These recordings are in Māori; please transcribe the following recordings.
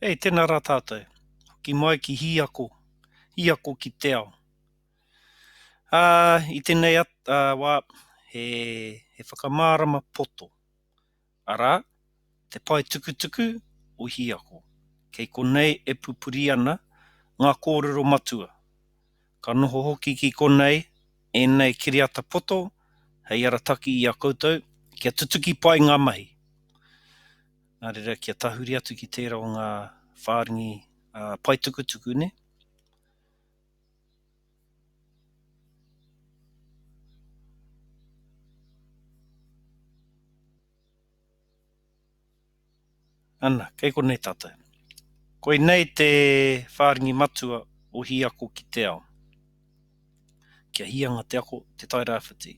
Hei, tena ra tatou. Hoki mai ki hi ako, hi ako ki te ao. A, i tenei wa, he, he whakamarama poto, ara, te pae tukutuku o hi ako. Kei konei e pupuri ana nga korero matua. Ka noho hoki ki konei enei kiriata poto hei arataki i a koutou kia tutuki pai nga mahi. nā reira kia tahuri atu ki tērā o ngā whārangi paetukutuku nei. Ana, kei konei tātou. Koinei te whārangi matua o Hiako ki te ao. Kia hia nga te ako, te Tairāwhiti.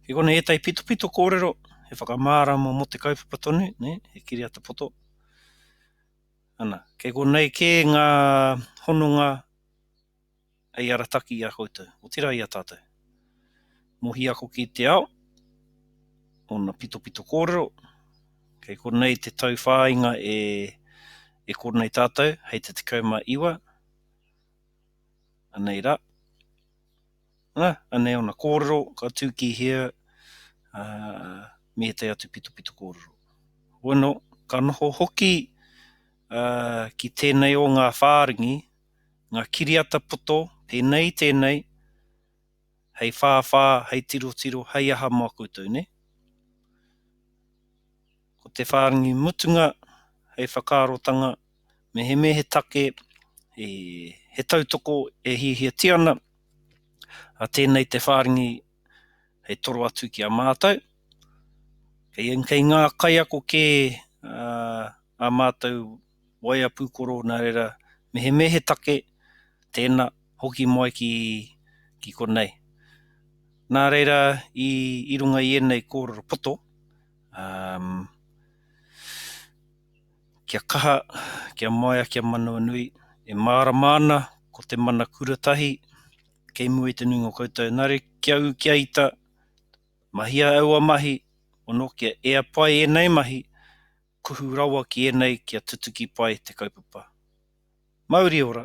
Kei konei ētahi pitopito kōrero, he whakamārama mō te kaupapa tonu, nē, he kiriata poto. Ana, kei konei kē ngā hononga hei arataki i a koutou, otirā i a tātou. Mohi ako ki te ao, ōna pitopito kōrero, kei konei te tauwhāinga e, e konei tātou, hei te 19, anei ra. Na, anei ona korero ka tu ki hea, a, me etai atu pitopito korero. Bueno, ka noho hoki, a, ki tenei o nga wharingi, nga kiriata poto, penei, tenei, hei whawha, hei tirotiro, hei aha mo koutou, ne? Ko te whārangi mutunga hei whakaarotanga mehemea he take, he tautoko e hiahiatia ana, a tēnei te whārangi hei toro atu ki a mātou. Kei ngā kaiako kē ā mātou waea pūkoro nā reira mehemea he take, tēnā, hoki mai ki konei. Nā reira i runga i ēnei kōrero poto, Um, Kia kaha, kia maea, kia manawanui, e mārama ana ko te mana kura tahi, kei mua i te nuinga o koutou, nare kia u kia ita, mahia aua mahi, ono kia ea pai enei mahi, kuhu rawa ki enei kia tutuki pai te kaupapa. Mauri ora!